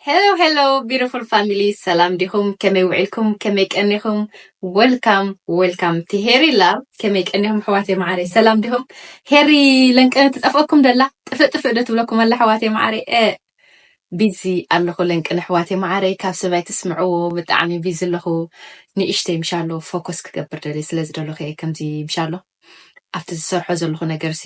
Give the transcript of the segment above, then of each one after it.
ሄሎ ሄሎ ቢሮፉል ፋሚሊ ሰላም ዲኹም ከመይ ውዒልኩም ከመይ ቀኒኹም ወልካም ወልካም እቲ ሄሪ ላቭ ከመይ ቀኒኹም ኣሕዋተይ መዓረይ ሰላም ዲኹም ሄሪ ለንቀነ ትጠፍኣኩም ደላ ጥፍእ ጥፍእ ዶ ትብለኩም ኣላ ኣሕዋተይ መዓረይ እ ቢዚ ኣለኹ ለንቅነ ኣሕዋተይ መዓረይ ካብ ሰባይ ትስምዕዎ ብጣዕሚ ቢዚ ኣለኹ ንእሽተይ ምሻሎ ፎከስ ክገብር ደልየ ስለዚ ደለኹ እየ ከምዚ ምሻሎ ኣብቲ ዝሰርሖ ዘለኹ ነገርሲ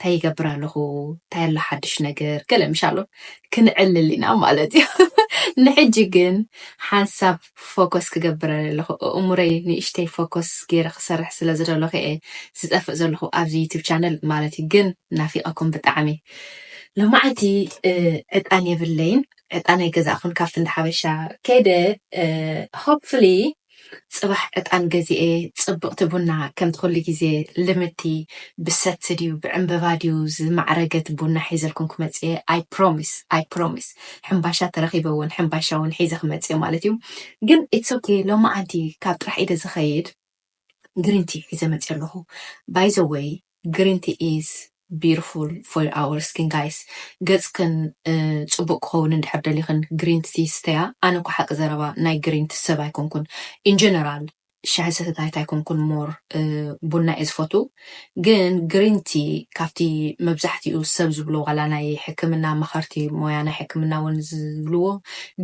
ታይ ይገብር ኣለኹ ታይ ኣሎ ሓዱሽ ነገር ገለ ምሽ ኣሎ ክንዕልል ኢና ማለት እዩ ንሕጂ ግን ሓንሳብ ፎኮስ ክገብር ኣለኹ እእሙረይ ንእሽተይ ፎኮስ ገይረ ክሰርሕ ስለ ዝደለኹ እየ ዝጠፍእ ዘለኹ ኣብዚ ዩቱብ ቻነል ማለት እዩ ግን ናፊቐኩም ብጣዕሚ ሎማዓንቲ ዕጣን የብለይን ዕጣን ኣይገዛእኹን ካብቲ እንዳ ሓበሻ ከይደ ሆፕፍሊ ጽባሕ ዕጣን ገዚኤ ጽብቅቲ ቡና ከምቲ ኩሉ ግዜ ልምድቲ ብሰቲ ድዩ ብዕንበባ ድዩ ዝማዕረገት ቡና ሒዘልኩም ክመጽእየ ኣይ ፕሮሚስ ኣይ ፕሮሚስ ሕምባሻ ተረኪበ ውን ሕምባሻ ውን ሒዘ ክመጽእየ ማለት እዩ ግን ኢትስ ኦኬ ሎማዓንቲ ካብ ጥራሕ ኢደ ዝከይድ ግሪንቲ ሒዘ መጽየ ኣለኩ ባይ ዘ ወይ ግሪን ቲ ኢዝ ቢዩትፉል ፎር ኣወር ስኪን ጋይስ ገጽክን ጽቡቅ ክከውን እንድሕር ደሊክን ግሪን ቲ ስተያ ኣነ እኮ ሓቂ ዘረባ ናይ ግሪን ቲ ሰብ ኣይኮንኩን ኢን ጀነራል ሻሂ ሰተታይት ኣይኮንኩን ሞር ቡና እየ ዝፈትው ግን ግሪን ቲ ካብቲ መብዛሕቲኡ ሰብ ዝብሎ ዋላ ናይ ሕክምና ኣማከርቲ ሞያ ናይ ሕክምና ውን ዝብልዎ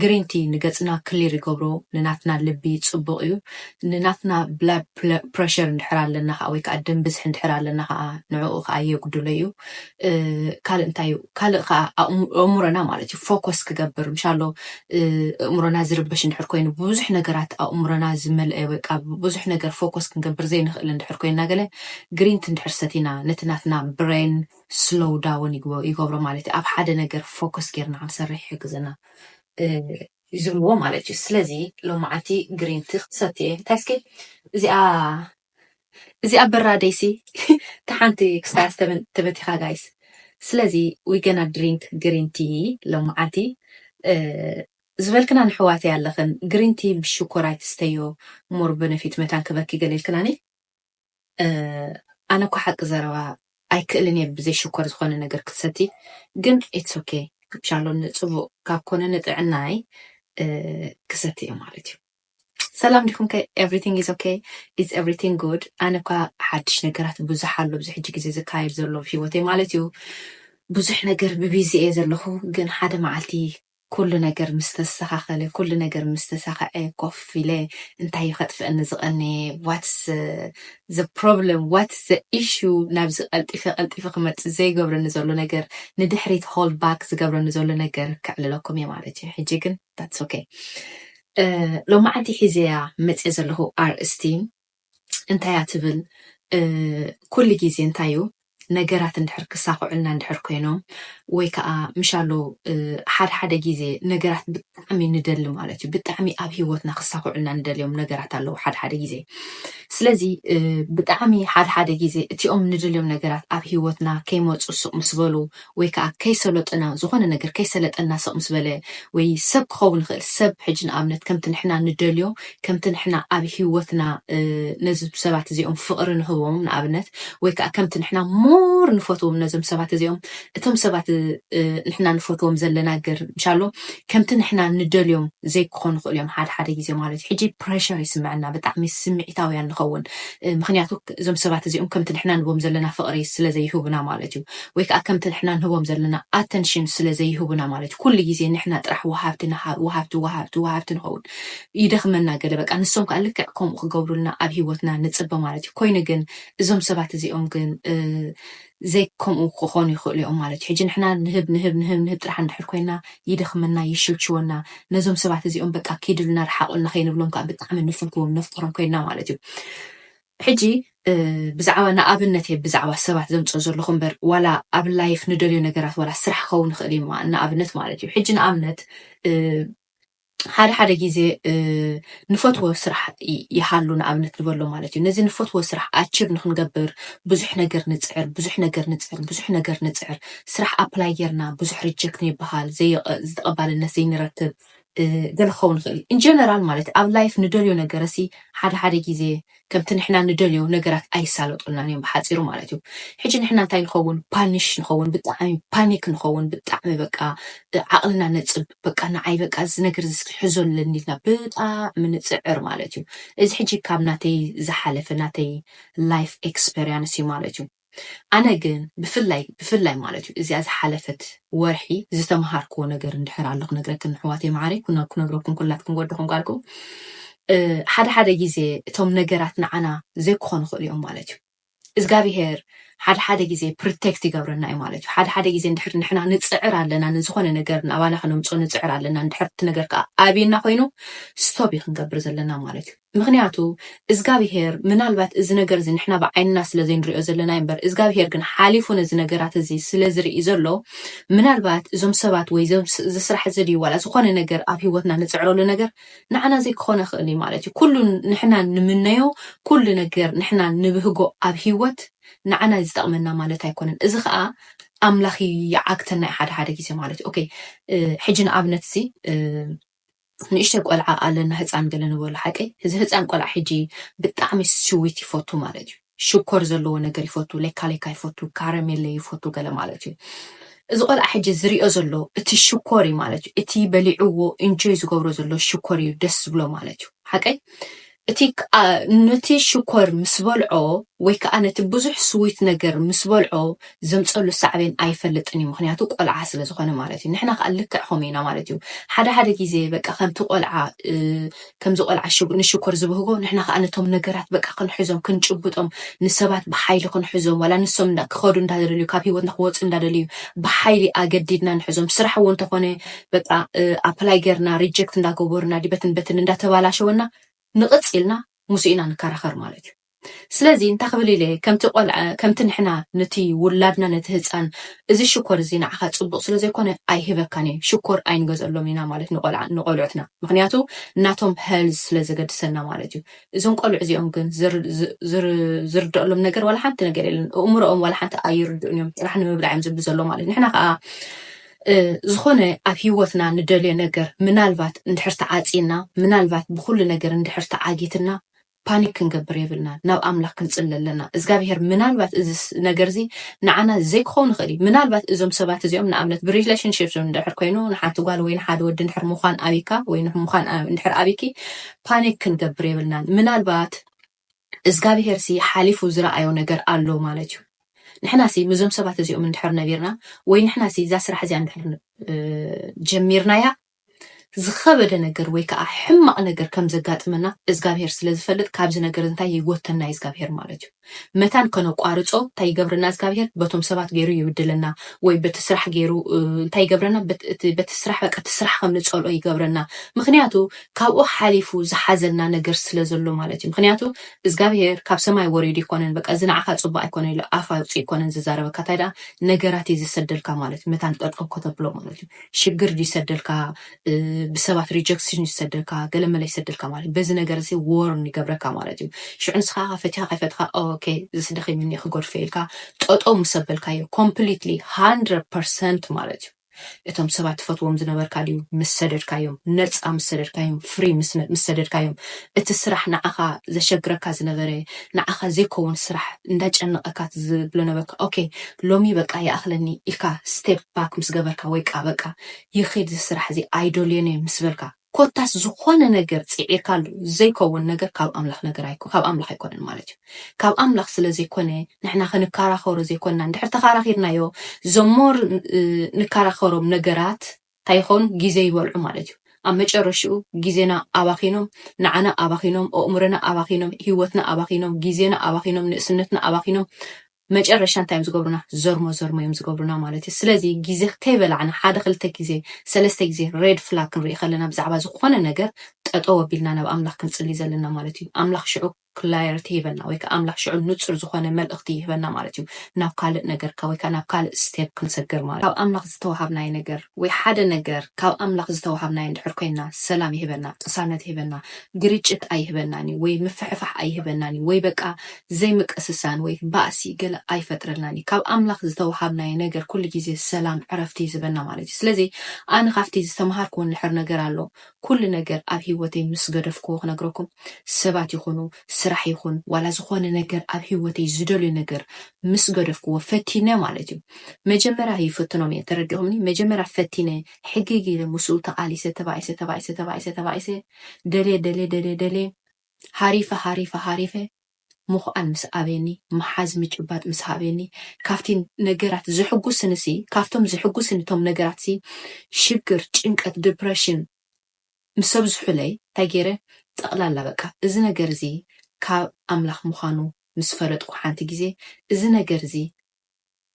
ግሪን ቲ ንገጽና ክሊር ይገብሮ ንናትና ልቢ ጽቡቅ እዩ ንናትና ብላድ ፕረሸር እንድሕር ኣለና ከኣ ወይ ከኣ ደም ብዝሒ እንድሕር ኣለና ከኣ ንዕኡ ከኣ የጉድሎ እዩ። ካልእ እንታይ እዩ ካልእ ከኣ ኣእምሮና ማለት እዩ ፎኮስ ክገብር ምሻሎ ኣእምሮና ዝርበሽ እንድሕር ኮይኑ ብብዙሕ ነገራት ኣእምሮና ዝመልአ ወይ ከኣ ብብዙሕ ነገር ፎኮስ ክንገብር ዘይንኽእል እንድሕር ኮይና ገለ ግሪን ቲ እንድሕር ሰቲና ነቲ ናትና ብሬን ስሎው ዳውን ይገብሮ ማለት እዩ። ኣብ ሓደ ነገር ፎኮስ ጌርና ክንሰርሕ ይሕግዘና። ዝብልዎ ማለት እዩ ስለዚ ሎማዓንቲ ግሪን ቲ ክሰቲ እየ እንታይ እስኪ እዚኣ እዚኣ በራደይ ሲ ታሓንቲ ክስታያ ተበቲካ ጋይስ ስለዚ ዊ ገና ድሪንክ ግሪን ቲ ሎማዓንቲ ዝበልክና ንሕዋተይ ኣለክን ግሪን ቲ ብሽኮር ኣይትስተዮ ሞር በነፊት መታን ክበኪ ገለ ኢልክናኒ። ኣነ እኮ ሓቂ ዘረባ ኣይክእልን እየ ብዘይ ሽኮር ዝኮነ ነገር ክትሰቲ ግን ኢትስ ኦኬ ሻሎ ንፅቡቅ ካብ ኮነ ንጥዕናይ ክሰቲ እየ ማለት እዩ ሰላም ዲኹም ከ ኤቭሪቲንግ ኢዝ ኦኬ ኢዝ ኤቭሪቲንግ ጉድ ኣነ እኳ ሓድሽ ነገራት ብዙሕ ኣሎ ኣብዚ ሕጂ ግዜ ዝካየድ ዘሎ ሂወተይ ማለት እዩ ብዙሕ ነገር ብቢዚ እየ ዘለኹ ግን ሓደ መዓልቲ ኩሉ ነገር ምስ ተስተኻኸለ፣ ኩሉ ነገር ምስ ተሳኸዐ ኮፍ ኢለ እንታይ እዩ ከጥፍኣኒ ዝቐነየ፣ ዋትስ ዘ ፕሮብለም፣ ዋትስ ዘ ኢሹ፣ ናብዚ ቀልጢፈ ቀልጢፈ ክመጽእ ዘይገብረኒ ዘሎ ነገር፣ ንድሕሪት ሆልድ ባክ ዝገብረኒ ዘሎ ነገር ከዕልለኩም እየ ማለት እዩ። ሕጂ ግን ዳትስ ኦኬ። ሎማዓንቲ ሒዘያ መጽየ ዘለኹ ኣርእስቲ፣ እንታይ እያ ትብል? ኩሉ ግዜ እንታይ እዩ ነገራት እንድሕር ክሳኽዑልና እንድሕር ኮይኖም ወይ ከዓ ምሻሎ ሓደ ሓደ ግዜ ነገራት ብጣዕሚ ንደሊ ማለት እዩ ብጣዕሚ ኣብ ሂወትና ክሳኽዑልና ንደልዮም ነገራት ኣለዉ ሓደ ሓደ ግዜ ስለዚ ብጣዕሚ ሓደ ሓደ ግዜ እቲኦም ንደልዮም ነገራት ኣብ ሂወትና ከይመፁ ስቕ ምስ በሉ ወይ ከኣ ከይሰሎጠና ዝኾነ ነገር ከይሰለጠና ስቕ ምስ በለ ወይ ሰብ ክኸውን ይኽእል ሰብ ሕጂ ንኣብነት ከምቲ ንሕና ንደልዮ ከምቲ ንሕና ኣብ ሂወትና ነዝም ሰባት እዚኦም ፍቕሪ ንህቦም ንኣብነት ወይ ከኣ ከምቲ ንሕና ሞር ንፈትዎም ነዞም ሰባት እዚኦም እቶም ሰባት ንሕና ንፈትዎም ዘለና ገር እንሻሎ ከምቲ ንሕና ንደልዮም ዘይክኾኑ ይኽእሉ እዮም ሓደ ሓደ ግዜ ማለት እዩ ሕጂ ፕሬሸር ይስምዐና ብጣዕሚ ስምዒታውያን ንኸውን ምክንያቱ እዞም ሰባት እዚኦም ከምቲ ንሕና ንቦም ዘለና ፍቕሪ ስለዘይህቡና ማለት እዩ ወይ ከኣ ከምቲ ንሕና ንህቦም ዘለና ኣተንሽን ስለ ዘይህቡና ማለት እዩ ኩሉ ግዜ ንሕና ጥራሕ ወሃብቲ ንሃብ ወሃብቲ ወሃብቲ ወሃብቲ ንኸውን ይደኽመና ገለ በቃ ንሶም ከኣ ልክዕ ከምኡ ክገብሩልና ኣብ ሂወትና ንጽበ ማለት እዩ ኮይኑ ግን እዞም ሰባት እዚኦም ግን ዘይ ከምኡ ክኾኑ ይኽእሉ እዮም ማለት እዩ ሕጂ ንሕና ንህብ ንህብ ንህብ ንህብ ጥራሕ እንድሕር ኮይና ይደኽመና ይሽልችወና ነዞም ሰባት እዚኦም በቃ ኪድሉና ርሓቑልና ከይንብሎም ከኣ ብጣዕሚ ንፍርህዎም ነፍቅሮም ኮይና ማለት እዩ ሕጂ ብዛዕባ ንኣብነት እየ ብዛዕባ ሰባት ዘምጽኦ ዘለኹ እምበር ዋላ ኣብ ላይፍ ንደልዮ ነገራት ዋላ ስራሕ ክኸውን ይኽእል እዩ እማ ንኣብነት ማለት እዩ ሕጂ ንኣብነት ሓደ ሓደ ግዜ ንፈትዎ ስራሕ ይሃሉ ንኣብነት ንበሎ ማለት እዩ ነዚ ንፈትዎ ስራሕ ኣችብ ንክንገብር ብዙሕ ነገር ንጽዕር ብዙሕ ነገር ንጽዕር ብዙሕ ነገር ንጽዕር ስራሕ ኣፕላይ ጌርና ብዙሕ ሪጀክት ንበሃል ዝተቐባልነት ዘይንረክብ ገለ ክኸውን ይኽእል እዩ። ኢንጀነራል ማለት ኣብ ላይፍ ንደልዮ ነገረሲ ሓደ ሓደ ግዜ ከምቲ ንሕና ንደልዮ ነገራት ኣይሳለጡልናን እዮም ብሓጺሩ ማለት እዩ። ሕጂ ንሕና እንታይ ንኸውን ፓኒሽ ንኸውን ብጣዕሚ ፓኒክ ንኸውን ብጣዕሚ በቃ ዓቕልና ነጽብ በቃ ንዓይ በቃ እዚ ነገር እዚ ክሕዞ ኣለኒ ኢልና ብጣዕሚ ንጽዕር ማለት እዩ። እዚ ሕጂ ካብ ናተይ ዝሓለፈ ናተይ ላይፍ ኤክስፐርያንስ እዩ ማለት እዩ። ኣነ ግን ብፍላይ ብፍላይ ማለት እዩ እዚኣ ዝሓለፈት ወርሒ ዝተምሃርክዎ ነገር እንድሕር ኣሎ ክነግረክን ኣሕዋተይ መዓረይ ክነግረኩም ኩላትኩም ወድኹም ጓልኩም ሓደ ሓደ ግዜ እቶም ነገራት ንዓና ዘይክኾኑ ክእሉ እዮም ማለት እዩ እግዚኣብሄር ሓደ ሓደ ግዜ ፕሮቴክት ይገብረና እዩ ማለት እዩ ሓደ ሓደ ግዜ እንድሕር ንሕና ንፅዕር ኣለና ንዝኾነ ነገር ናባና ከነምፅኦ ንፅዕር ኣለና እንድሕር እቲ ነገር ከዓ ኣብየና ኮይኑ ስቶብ እዩ ክንገብር ዘለና ማለት እዩ ምኽንያቱ እዝጋብሄር ምናልባት እዚ ነገር እዚ ንሕና ብዓይንና ስለ ዘይንሪኦ ዘለና እዩ እምበር እዝጋብሄር ግን ሓሊፉ ነዚ ነገራት እዚ ስለ ዝርኢ ዘሎ ምናልባት እዞም ሰባት ወይ እዚ ስራሕ እዚ ድዩ ዋላ ዝኾነ ነገር ኣብ ህይወትና ንፅዕረሉ ነገር ንዓና ዘይክኾነ ይኽእል እዩ ማለት እዩ ኩሉ ንሕና ንምነዮ ኩሉ ነገር ንሕና ንብህጎ ኣብ ህይወት ንዓና እዩ ዝጠቕመና ማለት ኣይኮነን እዚ ከዓ ኣምላኽ ይዓግተና እዩ ሓደ ሓደ ግዜ ማለት እዩ ኦኬ ሕጂ ንኣብነት እዚ ንእሽተይ ቆልዓ ኣለና ህጻን ገለ ንበሎ ሓቀይ እዚ ህጻን ቆልዓ ሕጂ ብጣዕሚ ስዊት ይፈቱ ማለት እዩ ሽኮር ዘለዎ ነገር ይፈቱ ሌካ ሌካ ይፈቱ ካረሜለ ይፈቱ ገለ ማለት እዩ እዚ ቆልዓ ሕጂ ዝሪኦ ዘሎ እቲ ሽኮር እዩ ማለት እዩ እቲ በሊዕዎ ኢንጆይ ዝገብሮ ዘሎ ሽኮር እዩ ደስ ዝብሎ ማለት እዩ ሓቀይ እቲ ነቲ ሽኮር ምስ በልዖ ወይ ከኣ ነቲ ብዙሕ ስዊት ነገር ምስ በልዖ ዘምጸሉ ሳዕቤን ኣይፈልጥን እዩ ምኽንያቱ ቆልዓ ስለ ዝኾነ ማለት እዩ ንሕና ከኣ ልክዕ ከምኡ ኢና ማለት እዩ ሓደ ሓደ ግዜ በቃ ከምቲ ቆልዓ ከምዚ ቆልዓ ንሽኮር ዝብህጎ ንሕና ከኣ ነቶም ነገራት በቃ ክንሕዞም ክንጭብጦም ንሰባት ብሓይሊ ክንሕዞም ዋላ ንሶም ክኸዱ እንዳደልዩ ካብ ሂወትና ክወጹ እንዳደልዩ ብሓይሊ ኣገዲድና ንሕዞም ስራሕ እውን ተኾነ በቃ ኣፕላይ ገርና ሪጀክት እንዳገበሩና ዲበትን በትን እንዳተባላሸወና ንቕፅ ኢልና ምስ ኢና ንከራኸር ማለት እዩ ስለዚ እንታይ ክብል ኢለ ከምቲ ቆልዓ ከምቲ ንሕና ንቲ ውላድና ነቲ ህፃን እዚ ሽኮር እዚ ንዓኻ ፅቡቕ ስለ ዘይኮነ ኣይህበካን እየ ሽኮር ኣይንገዘሎም ኢና ማለት ንቆልዓ ንቆልዑትና ምክንያቱ ናቶም ሄልዝ ስለ ዘገድሰና ማለት እዩ እዞም ቆልዑ እዚኦም ግን ዝርደኣሎም ነገር ዋላ ሓንቲ ነገር የለን እእምሮኦም ዋላ ሓንቲ ኣይርድኡን እዮም ጥራሕ ንምብላዕ እዮም ዝብሉ ዘሎ ማለት ንሕና ከዓ ዝኾነ ኣብ ህይወትና ንደልዮ ነገር ምናልባት እንድሕር ተዓጽዩና፣ ምናልባት ብኹሉ ነገር እንድሕር ተዓጊትና፣ ፓኒክ ክንገብር የብልናን። ናብ ኣምላኽ ክንጽሊ ኣለና። እዝጋብሄር ምናልባት እዚ ነገርዚ ንዓና ዘይክኸውን ይኽእል እዩ። ምናልባት እዞም ሰባት እዚኦም ንኣብነት ብሪሌሽንሺፕ እንድሕር ኮይኑ ንሓንቲ ጓል ወይ ንሓደ ወዲ እንድሕር ምዃን ኣብይካ ወይ ምዃን እንድሕር ኣብይኪ ፓኒክ ክንገብር የብልናን። ምናልባት እዝጋብሄር ሲ ሓሊፉ ዝረኣዮ ነገር ኣሎ ማለት እዩ ንሕና ሲ ምዞም ሰባት እዚኦም እንድሕር ነቢርና ወይ ንሕና ሲ እዛ ስራሕ እዚኣ እንድሕር ጀሚርናያ ዝኸበደ ነገር ወይ ከዓ ሕማቕ ነገር ከም ዘጋጥመና እዝጋብሄር ስለ ዝፈልጥ ካብዚ ነገር እንታይ ይጎተና እዩ እዝጋብሄር ማለት እዩ መታን ከነቋርፆ እንታይ ይገብረና እዝጋብሄር በቶም ሰባት ገይሩ ይብድለና ወይ በቲ ስራሕ ገይሩ እንታይ ይገብረና በቲ ስራሕ በቃ እቲ ስራሕ ከም ንፀልኦ ይገብረና ምክንያቱ ካብኡ ሓሊፉ ዝሓዘልና ነገር ስለ ዘሎ ማለት እዩ ምክንያቱ እዝጋብሄር ካብ ሰማይ ወሪዱ ኣይኮነን በቃ እዚ ንዓካ ጽቡቅ ኣይኮነን ኢሉ ኣፍ ኣውጺኡ ኣይኮነን ዝዛረበካ እንታይ ደኣ ነገራት እዩ ዝሰደልካ ማለት እዩ መታን ጠርጠው ከተብሎ ማለት እዩ ሽግር ድዩ ዝሰደልካ ብሰባት ሪጀክሽን እዩ ዝሰደልካ ገለ መለ ይሰደልካ ማለት እዩ በዚ ነገር እዚ ዎርን ይገብረካ ማለት እዩ ሽዑ ንስካ ከ ፈቲካ ከይፈትካ ኦኬ ዝስደኺ ምኒ ክጎድፈ ኢልካ ጠጠው ምስ ኣበልካዮ ኮምፕሊትሊ 100% ማለት እዩ እቶም ሰባት ትፈትዎም ዝነበርካ ድዩ ምስ ሰደድካዮም ነጻ ምስ ሰደድካዮም ፍሪ ምስ ሰደድካዮም እቲ ስራሕ ንዓኻ ዘሸግረካ ዝነበረ ንዓኻ ዘይኮውን ስራሕ እንዳጨነቀካ ትብሎ ነበርካ ok ሎሚ በቃ ይኣኽለኒ ኢልካ step back ምስ ገበርካ ወይ ከኣ በቃ ይኺድ እዚ ስራሕ እዚ ኣይደልዮን እየ ምስ በልካ ኮታስ ዝኾነ ነገር ጺዒርካሉ ዘይከውን ነገር ካብ ኣምላኽ ነገር ኣይኮ ካብ ኣምላኽ ኣይኮነን ማለት እዩ። ካብ ኣምላኽ ስለ ዘይኮነ ንሕና ክንከራኸሮ ዘይኮንና እንድሕር ተኻራኺርናዮ ዘሞር ንከራኸሮም ነገራት እንታይ ይኾኑ ግዜ ይበልዑ ማለት እዩ። ኣብ መጨረሽኡ ግዜና ኣባኺኖም፣ ንዓና ኣባኺኖም፣ ኣእምሮና ኣባኺኖም፣ ህይወትና ኣባኺኖም፣ ግዜና ኣባኺኖም፣ ንእስነትና ኣባኺኖም መጨረሻ እንታይ እዮም ዝገብሩና ዘርሞ ዘርሞ እዮም ዝገብሩና ማለት እዩ ስለዚ ግዜ ከይበላዕና ሓደ ክልተ ግዜ ሰለስተ ግዜ ሬድ ፍላግ ክንርኢ ከለና ብዛዕባ ዝኾነ ነገር ጠጠው ኣቢልና ናብ ኣምላኽ ክንጽሊ ዘለና ማለት እዩ ኣምላኽ ሽዑ ክላየርቲ ይህበና ወይ ከዓ ኣምላኽ ሽዑ ንፁር ዝኾነ መልእኽቲ ይህበና ማለት እዩ ናብ ካልእ ነገርካ ወይ ከዓ ናብ ካልእ ስቴፕ ክንሰግር ማለት ካብ ኣምላኽ ዝተዋሃብናይ ነገር ወይ ሓደ ነገር ካብ ኣምላኽ ዝተዋሃብናይ እንድሕር ኮይና ሰላም ይህበና ቅሳነት ይህበና ግርጭት ኣይህበናን እዩ ወይ ምፍሕፋሕ ኣይህበናን እዩ ወይ በቃ ዘይምቅስሳን ወይ ባእሲ ገለ ኣይፈጥረልናን እዩ። ካብ ኣምላኽ ዝተወሃብናዮ ነገር ኩሉ ግዜ ሰላም ዕረፍቲ እዩ ዝህበና ማለት እዩ። ስለዚ ኣነ ካብቲ ዝተመሃርክዎ ንሕር ነገር ኣሎ ኩሉ ነገር ኣብ ሂወተይ ምስ ገደፍክዎ ክነግረኩም ሰባት ይኹኑ ስራሕ ይኹን ዋላ ዝኾነ ነገር ኣብ ሂወተይ ዝደልዮ ነገር ምስ ገደፍክዎ ፈቲነ ማለት እዩ መጀመርያ ይፍትኖም እየ ተረዲኹምኒ መጀመርያ ፈቲነ ሕግግ ኢለ ምስኡ ተቃሊሰ ተባኢሰ ተባኢሰ ተባኢሰ ተባኢሰ ደልየ ደልየ ደልየ ደልየ ሃሪፈ ሃሪፈ ሃሪፈ ምኹኣን ምስ ኣበየኒ፣ ምሓዝ ምጭባጥ ምስ ሃበየኒ፣ ካብቲ ነገራት ዘሕጉስንሲ፣ ካብቶም ዘሕጉስኒ እቶም ነገራትሲ፣ ሽግር፣ ጭንቀት፣ ድፕረሽን ምስ ኣብዝሑለይ፣ እንታይ ገይረ፣ ጠቕላላ በቃ እዚ ነገርዚ ካብ ኣምላኽ ምዃኑ ምስ ፈለጥኩ ሓንቲ ግዜ፣ እዚ ነገርዚ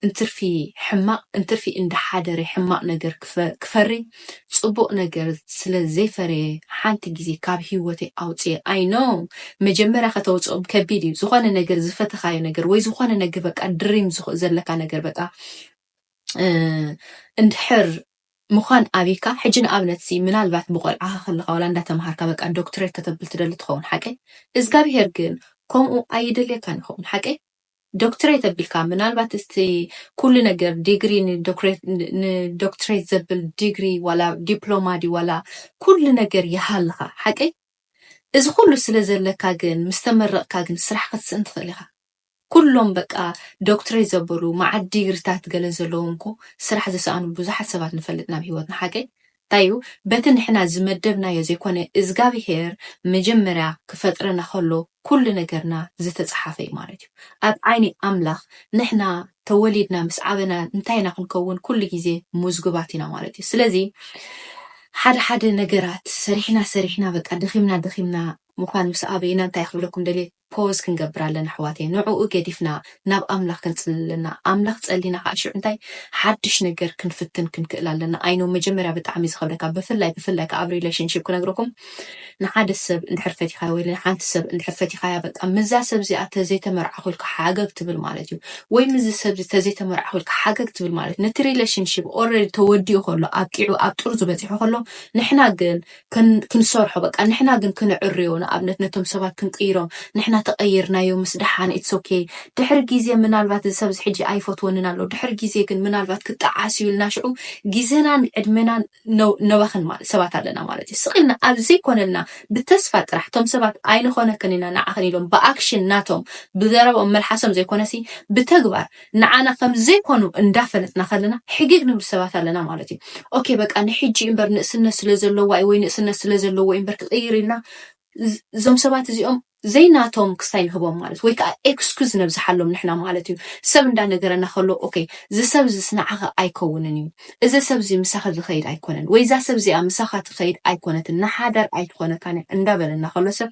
እንትርፊ ሕማቅ እንትርፊ እንዳ ሓደረ ሕማቅ ነገር ክፈሪ ጽቡቅ ነገር ስለ ዘይፈረየ ሓንቲ ግዜ ካብ ሂወተይ ኣውጽየ ኣይ ኖው መጀመርያ ከተውጽኦም ከቢድ እዩ ዝኮነ ነገር ዝፈተካዮ ነገር ወይ ዝኮነ ነገር በቃ ድሪም ዘለካ ነገር በቃ እንድሕር ምዃን ኣቢካ ሕጂ ንኣብነት ሲ ምናልባት ብቆልዓኻ ከለኻ ወላ እንዳተምሃርካ በቃ ዶክትሬት ከተብል ትደሊ ትኸውን ሓቀይ እዝጋብሄር ግን ከምኡ ኣይደልየካን ይኸውን ሓቀይ ዶክትሬት ኣቢልካ ምናልባት እስቲ ኩሉ ነገር ዲግሪ ንዶክትሬት ዘብል ዲግሪ ዋላ ዲፕሎማ ድዩ ዋላ ኩሉ ነገር ይሃልኻ ሓቀይ እዚ ኩሉ ስለ ዘለካ ግን ምስ ተመረቕካ ግን ስራሕ ክትስእን ትኽእል ኢኻ ኩሎም በቃ ዶክትሬት ዘበሉ መዓት ዲግሪታት ገለ ዘለዎም እኮ ስራሕ ዝሰኣኑ ብዙሓት ሰባት ንፈልጥ ናብ ሂወትና ሓቀይ እዩ በቲ ንሕና ዝመደብናዮ ዘይኮነ እዝጋቢሄር መጀመርያ ክፈጥረና ከሎ ኩሉ ነገርና ዝተጻሓፈ እዩ ማለት እዩ ኣብ ዓይኒ ኣምላኽ ንሕና ተወሊድና ምስ ዓበና እንታይ ኢና ክንከውን ኩሉ ግዜ ሙዝጉባት ኢና ማለት እዩ ስለዚ ሓደ ሓደ ነገራት ሰሪሕና ሰሪሕና በቃ ደኺምና ደኺምና ሙዃን ምስ ኣበይና እንታይ ክብለኩም ደልየ ፖዝ ክንገብር ኣለና ኣሕዋተይ ንዑኡ ገዲፍና ናብ ኣምላኽ ክንጽሊ ኣለና ኣምላኽ ጸሊና ካኣ ሽዑ እንታይ ሓድሽ ነገር ክንፍትን ክንክእል ኣለና ኣይ ኖው መጀመርያ ብጣዕሚ እዩ ዝኸብደካ ብፍላይ ብፍላይ ካኣ ኣብ ሪለሽንሺፕ ክነግረኩም ንሓደ ሰብ እንድሕር ፈቲኻዮ ወይ ንሓንቲ ሰብ እንድሕር ፈቲኻያ በቃ ምዛ ሰብ እዚኣ ተዘይተመርዓኹ ኢልካ ሓገግ ትብል ማለት እዩ ወይ ምዚ ሰብ እዚ ተዘይተመርዓኹ ኢልካ ሓገግ ትብል ማለት ነቲ ሪለሽንሺፕ ኦልሬዲ ተወዲኡ ከሎ ኣብቂዑ ኣብ ጥርዙ በጺሑ ከሎ ንሕና ግን ክንሰርሖ በቃ ንሕና ግን ክንዕርዮ ንኣብነት ነቶም ሰባት ክንቅይሮም ንሕና ተቐይርናዮ ምስ ደሓን ኢትስ ኦኬ ድሕሪ ግዜ ምናልባት እዚ ሰብዚ ሕጂ ኣይፈትወንን ኣሎ ድሕሪ ግዜ ግን ምናልባት ክጠዓስ እዩ ኢልና ሽዑ ግዜናን ዕድመናን ነባኽን ማለት ሰባት ኣለና ማለት እዩ ስቕ ኢልና ኣብ ዘይኮነልና ብተስፋ ጥራሕ እቶም ሰባት ኣይንኾነክን ኢና ንዓኽን ኢሎም ብኣክሽን ናቶም ብዘረብኦም መልሓሶም ዘይኮነሲ ብተግባር ንዓና ከም ዘይኮኑ እንዳ ፈለጥና ከለና ሕጊግ ንብሉ ሰባት ኣለና ማለት እዩ ኦኬ በቃ ንሕጂ እምበር ንእስነት ስለ ዘለዋ እዩ ወይ ንእስነት ስለ ዘለዎ እዩ እምበር ክቅይር ኢልና እዞም ሰባት እዚኦም ዘይናቶም ክስታይ ንህቦም ማለት ወይ ከዓ ኤክስኩዝ ነብዝሓሎም ንሕና ማለት እዩ ሰብ እንዳነገረና ከሎ ኦኬ እዚ ሰብ እዚስ ንዓኻ ኣይከውንን እዩ እዚ ሰብ እዚ ምሳኺ ዝኸይድ ኣይኮነን ወይ እዛ ሰብ እዚኣ ምሳኻ ትኸይድ ኣይኮነትን ንሓዳር ኣይትኾነካን እያ እንዳበለና ከሎ ሰብ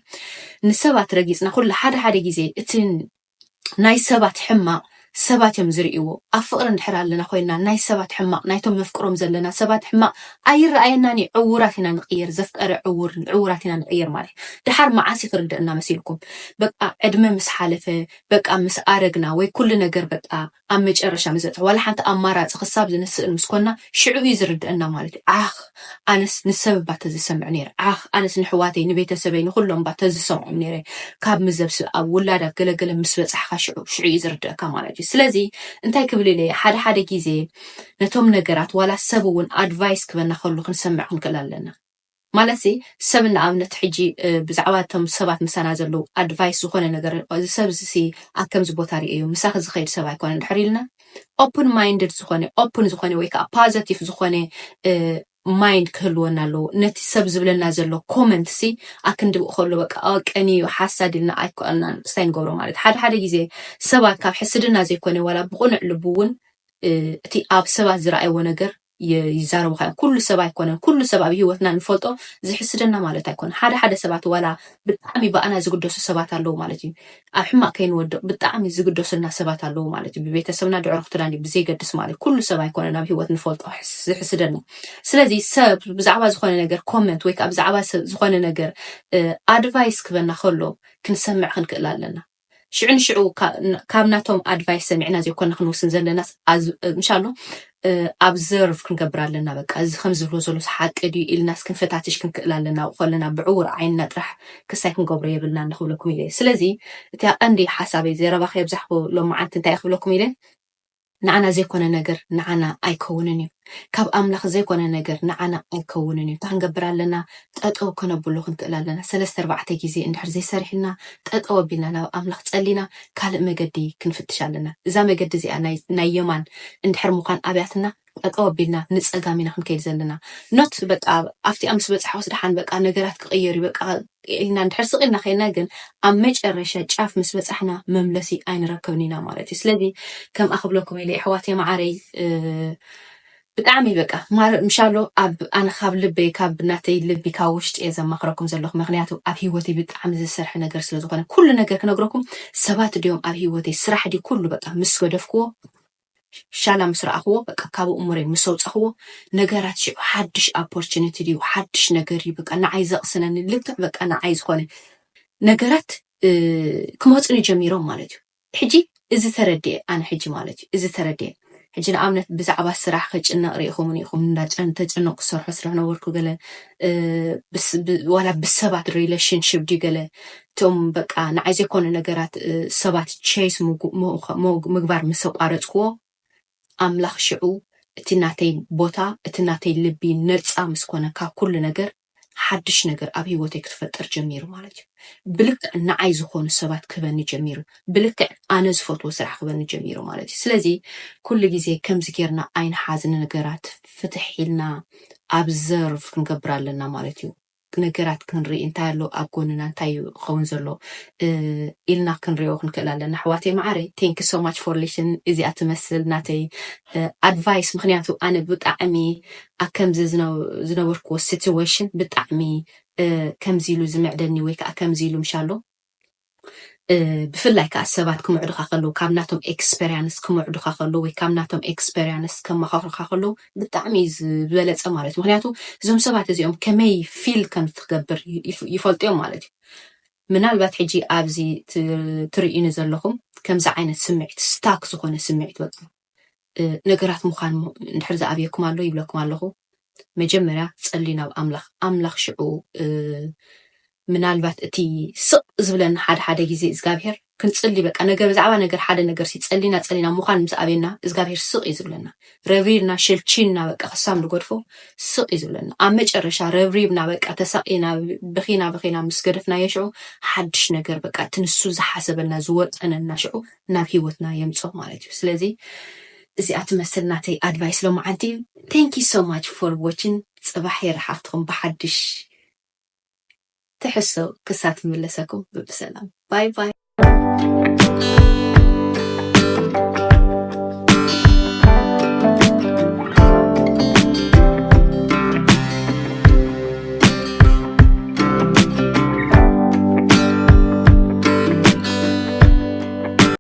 ንሰባት ረጊፅና ኩሉ ሓደ ሓደ ግዜ እቲ ናይ ሰባት ሕማቕ ሰባት እዮም ዝርእይዎ። ኣብ ፍቕሪ እንድሕር ኣለና ኮይንና ናይ ሰባት ሕማቕ ናይቶም ነፍቅሮም ዘለና ሰባት ሕማቕ ኣይረኣየናን እዩ። ዕዉራት ኢና ንቕየር ዘፍቀረ ዕዉር ዕዉራት ኢና ንቕየር ማለት እዩ። ድሓር መዓስ እዩ ክርደእና መሲልኩም በቃ ዕድመ ምስ ሓለፈ በቃ ምስ ኣረግና ወይ ኩሉ ነገር በቃ ኣብ መጨረሻ መዘተ ዋላ ሓንቲ ኣማራጺ ክሳብ ዝንስእን ምስ ኮና ሽዑ እዩ ዝርደኣና ማለት እዩ ዓኽ ኣነስ ንሰብ እባ ተዝሰምዕ ነይረ ዓኽ ኣነስ ነሕዋተይ ንቤተሰበይ ንኹሎም እባ ተዝሰምዖም ነይረ ካብ ምዘብ ስብ ኣብ ውላድ ኣብ ገለ ገለ ምስ በጻሕካ ሽዑ ሽዑ እዩ ዝርደኣካ ማለት እዩ ስለዚ እንታይ ክብል ኢለ እየ ሓደ ሓደ ግዜ ነቶም ነገራት ዋላ ሰብ እውን ኣድቫይስ ክበና ከሉ ክንሰምዕ ክንክእል ኣለና ማለትሲ ሰብ ንኣብነት ሕጂ ብዛዕባ እቶም ሰባት ምሳና ዘለዉ ኣድቫይስ ዝኾነ ነገር እዚ ሰብ እዚሲ ኣብ ከምዚ ቦታ ሪኤዮ ምሳኺ ዝኸይድ ሰብ ኣይኮነን ድሕር ኢልና ኦፕን ማይንድድ ዝኾነ ኦፕን ዝኾነ ወይ ከዓ ፓዘቲቭ ዝኾነ ማይንድ ክህልወና ኣለዎ ነቲ ሰብ ዝብለና ዘሎ ኮመንት ሲ ኣክንድኡ ከሎ በቃ ቀኒ እዩ ሓሳድ ኢልና ኣይኮና ስታይ ንገብሮ ማለት ሓደ ሓደ ግዜ ሰባት ካብ ሕስድና ዘይኮነ ዋላ ብቁኑዕ ልቡ እውን እቲ ኣብ ሰባት ዝረኣይዎ ነገር ይዛረቡኻ እዮም። ኩሉ ሰብ ኣይኮነን፣ ኩሉ ሰብ ኣብ ህይወትና ንፈልጦ ዝሕስደና ማለት ኣይኮነን። ሓደ ሓደ ሰባት ዋላ ብጣዕሚ ብኣና ዝግደሱ ሰባት ኣለዉ ማለት እዩ። ኣብ ሕማቅ ከይንወድቅ ብጣዕሚ ዝግደሱልና ሰባት ኣለዉ ማለት እዩ። ብቤተሰብና ድዕሮ ክትዳኒ ብዘይገድስ ማለት እዩ። ኩሉ ሰብ ኣይኮነን ኣብ ህይወት ንፈልጦ ዝሕስደና። ስለዚ ሰብ ብዛዕባ ዝኾነ ነገር ኮመንት ወይ ከዓ ብዛዕባ ዝኮነ ነገር ኣድቫይስ ክበና ከሎ ክንሰምዕ ክንክእል ኣለና። ሽዑ ንሽዑ ካብ ናቶም ኣድቫይስ ሰሚዕና ዘይኮና ክንወስን ዘለናስ ምሻሎ ኣብዘርቭ ክንገብር ኣለና በቃ እዚ ከም ዝብሎ ዘሎስ ሓቂ ድዩ ኢልናስ ክንፈታትሽ ክንክእል ኣለና ኣብኡ ከለና ብዕውር ዓይንና ጥራሕ ክሳይ ክንገብሮ የብልናን ንክብለኩም ኢለ ስለዚ እቲ ቀንዲ ሓሳበይ ዘረባ ከየብዛሕኩ ሎማዓንቲ እንታይ ክብለኩም ኢለ ንዓና ዘይኮነ ነገር ንዓና ኣይከውንን እዩ ካብ ኣምላኽ ዘይኮነ ነገር ንዓና ኣይከውንን እዩ እንታይ ክንገብር ኣለና ጠጠው ከነብሎ ክንክእል ኣለና ሰለስተ ኣርባዕተ ግዜ እንድሕር ዘይሰሪሕልና ጠጠው ኣቢልና ናብ ኣምላኽ ጸሊና ካልእ መገዲ ክንፍትሽ ኣለና እዛ መገዲ እዚኣ ናይ ናይ የማን እንድሕር ምዃን ኣብያትና ጠጠው ኣቢልና ንጸጋም ኢና ክንከይድ ዘለና ኖት በቃ ኣብቲኣ ምስ በጻሕኩስ ደሓን በቃ ነገራት ክቕየር እዩ በቃ ኢልና እንድሕር ስቕ ኢልና ኬድና ግን ኣብ መጨረሻ ጫፍ ምስ በጻሕና መምለሲ ኣይንረክብን ኢና ማለት እዩ። ስለዚ ከምኣ ክብለኩም ኢለ የሕዋተይ መዓረይ ብጣዕሚ በቃ ማረ ምሻሎ ኣብ ኣነ ካብ ልበይ ካብ ናተይ ልቢ ካብ ውሽጢ እየ ዘማኽረኩም ዘለኹ ምክንያቱ ኣብ ሂወተይ ብጣዕሚ ዝሰርሐ ነገር ስለ ዝኾነ ኩሉ ነገር ክነግረኩም ሰባት ድዮም ኣብ ሂወተይ ስራሕ ድዩ ኩሉ በቃ ምስ ገደፍክዎ ሻላ ምስ ረኣኽዎ በቃ ካብ ኣእምሮይ ምስ ኣውጻኽዎ ነገራት ሽዑ ሓድሽ ኣፖርችኒቲ ድዩ ሓድሽ ነገር ድዩ በቃ ንዓይ ዘቕስነኒ ልክዕ በቃ ንዓይ ዝኾነ ነገራት ክመጹኒ ጀሚሮም ማለት እዩ ሕጂ እዚ ተረድየ ኣነ ሕጂ ማለት እዩ እዚ ተረድየ ሕጂ ንኣብነት ብዛዕባ ስራሕ ክጭነቕ ርኢኹምኒ ኢኹም እንዳ ተጨነቑ ክሰርሖ ስለነበርኩ ገለ ዋላ ብሰባት ሪሌሽንሽፕ ድዩ ገለ እቶም በቃ ንዓይ ዘይኮነ ነገራት ሰባት ቸይስ ምግባር ምስ ኣቋረጽክዎ፣ ኣምላኽ ሽዑ እቲ ናተይ ቦታ፣ እቲ ናተይ ልቢ ነጻ ምስ ኮነ ካብ ኩሉ ነገር፣ ሓድሽ ነገር ኣብ ህይወተይ ክትፈጥር ጀሚሩ ማለት እዩ። ብልክዕ ንዓይ ዝኾኑ ሰባት ክህበኒ ጀሚሩ። ብልክዕ ኣነ ዝፈትዎ ስራሕ ክህበኒ ጀሚሩ ማለት እዩ። ስለዚ ኩሉ ግዜ ከምዚ ጌርና ኣይንሓዝ ንነገራት ፍትሕ ኢልና ኣብዘርቭ ክንገብር ኣለና ማለት እዩ። ነገራት ክንርኢ እንታይ ኣሎ ኣብ ጎንና እንታይ እዩ ክኸውን ዘሎ ኢልና ክንሪኦ ክንክእል ኣለና ኣሕዋተይ መዓረይ ቴንክ ሶ ማች ፎር ሊሽን እዚኣ ትመስል ናተይ ኣድቫይስ ምክንያቱ ኣነ ብጣዕሚ ኣብ ከምዚ ዝነበርክዎ ሲትዌሽን ብጣዕሚ ከምዚ ኢሉ ዝምዕደኒ ወይ ከዓ ከምዚ ኢሉ ምሻሎ ብፍላይ ከዓ ሰባት ክምዕዱኻ ከለዉ ካብ ናቶም ኤክስፐሪያንስ ክምዕዱኻ ከለዉ ወይ ካብ ናቶም ኤክስፐሪያንስ ከመኻኽሩኻ ከለዉ ብጣዕሚ እዩ ዝበለፀ ማለት እዩ ምክንያቱ እዞም ሰባት እዚኦም ከመይ ፊል ከም ትገብር ይፈልጡ እዮም ማለት እዩ ምናልባት ሕጂ ኣብዚ ትርእዩኒ ዘለኹም ከምዚ ዓይነት ስምዒት ስታክ ዝኾነ ስምዒት በቃ ነገራት ምዃን እንድሕር ዝኣብየኩም ኣሎ ይብለኩም ኣለኹ መጀመርያ ጸልዩ ናብ ኣምላኽ ኣምላኽ ሽዑ ምናልባት እቲ ስቕ ዝብለና ሓደ ሓደ ግዜ እግዚኣብሄር ክንጽሊ በቃ ነገር ብዛዕባ ነገር ሓደ ነገር ሲ ጸሊና ጸሊና ምዃን ምስ ኣበና እግዚኣብሄር ስቕ እዩ ዝብለና ረብሪብና ሸልቺና በቃ ክሳብ ንገድፎ ስቕ እዩ ዝብለና ኣብ መጨረሻ ረብሪብና በቃ ተሳቂና ብኺና ብኺና ምስ ገደፍናዮ ሽዑ ሓድሽ ነገር በቃ እቲ ንሱ ዝሓሰበልና ዝወጠነና ሽዑ ናብ ሂወትና የምጽኦ ማለት እዩ ስለዚ እዚኣ ትመስል ናተይ ኣድቫይስ ሎምዓንቲ thank you so much for watching ጽባሕ የራሓክትኩም ብሓድሽ ትሕዝቶ ክሳት ምለሰኩም ብብሰላም ባይ ባይ